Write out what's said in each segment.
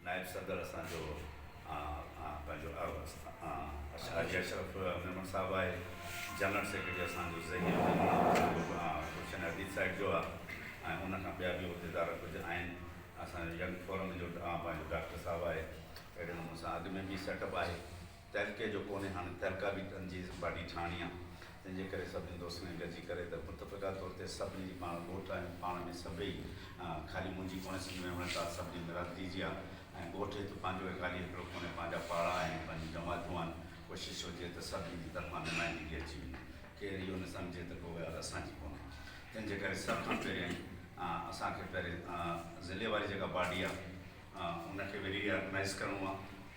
نائب صدر اسان جو پنهنجو حاجي اشرف ميمڻ صاحب آهي، جنرل سيڪريٽري اسان جو ظهير ميمڻ اسان جو گلشن حبيب سائيڊ جو آهي ۽ ان کان ٻيا به عهديدار ڪجهه آهن، اسان جو ينگ فورم جو پنهنجو ڊاڪٽر صاحب آهي، اهڙي نموني سان اڳ ۾ به سيٽ اپ آهي. تعلقي جو ڪونهي، هاڻي تعلقه به تنظيم باڊي ٺاهڻي آ، تنهن جي ڪري سڀني دوستن کي گڏجي ڪري ته متفقه طور تي سڀني جي پاڻ ڳوٺ آهيون، پاڻ ۾ سڀئي خالي منهنجي ڪونهي سنڌ ۾ وڻ ٽار سڀني برادري جي آ ۽ ڳوٺ هت پنهنجو هي خالي هڪڙو ڪونهي پنهنجا پاڙا آهن پنهنجون جماعتون آهن، ڪوشش هجي ته سڀني جي طرفان نمائندگي اچي وڃي، ڪير اهو نه سمجهي ته ڪو ڳالهه اسان جي ڪونهي تنهن جي ڪري سڀ کان پهريائين اسان کي پهرين ضلعي واري جيڪا باڊي آ ان کي وري آرگنائيز ڪرڻو آ.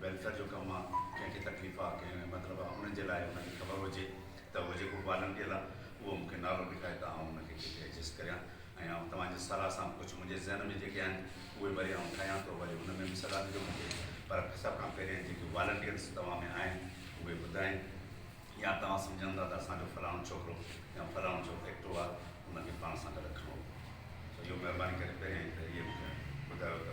ويلفيئر جو ڪم آ ڪنهن کي تڪليف آ ڪنهن مطلب آ ان جي لاء ان کي خبر هجي ته اهو جيڪو بالن ڏيل آ اهو مون کي نالو ڏيکاري ته آئون ان کي ڪٿي ايڊجسٽ ڪريان ۽ آئون توهان جي صلاح سان ڪجهه منهنجي ذهن ۾ جيڪي آهن اهي وري آئون ٺاهيان ٿو وري ان ۾ به صلاح ڏجو مون کي پر سڀ کان پهريان جيڪي والنٽيئرز توهان ۾ آهن اهي ٻڌائين يا توهان سمجهن ٿا ته اسان جو فلاڻو ڇوڪرو يا فلاڻو جو ايڪٽو آ ان کي پاڻ سان گڏ کڻو سو اهو مهرباني ڪري پهريان ئي ته اهي مون کي ٻڌايو ته